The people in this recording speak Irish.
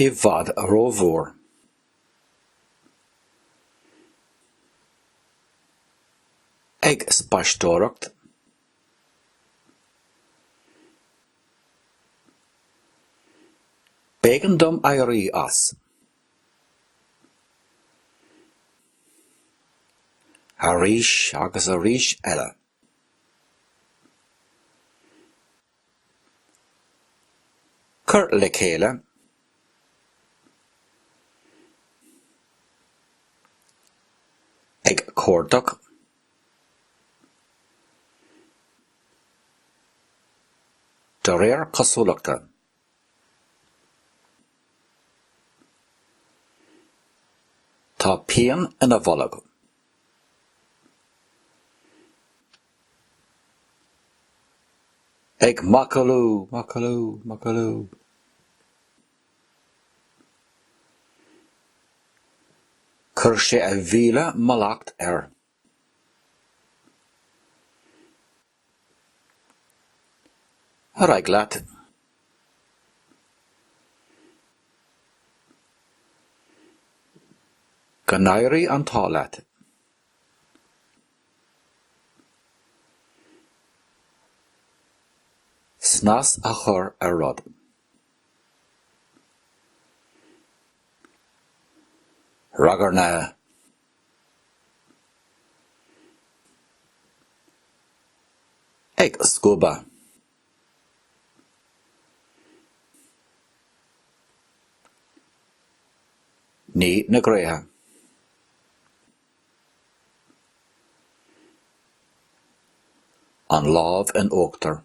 i bhfad rómhór. ag spaisteoireacht. B'éigean dom éirí as. Arís agus arís eile, cur le chéile ag cuardach de réir cosúlachta. Tá pian ina bholg. Ag macallú, macallú, macallú. Chuir sé a mhíle mallacht air. Ar aghaidh leat. Go n-éirí an t-ádh leat. Snas a chur ar rud. Ragairne. ag scuabadh. Ní na gréithe. An lámh in uachtar.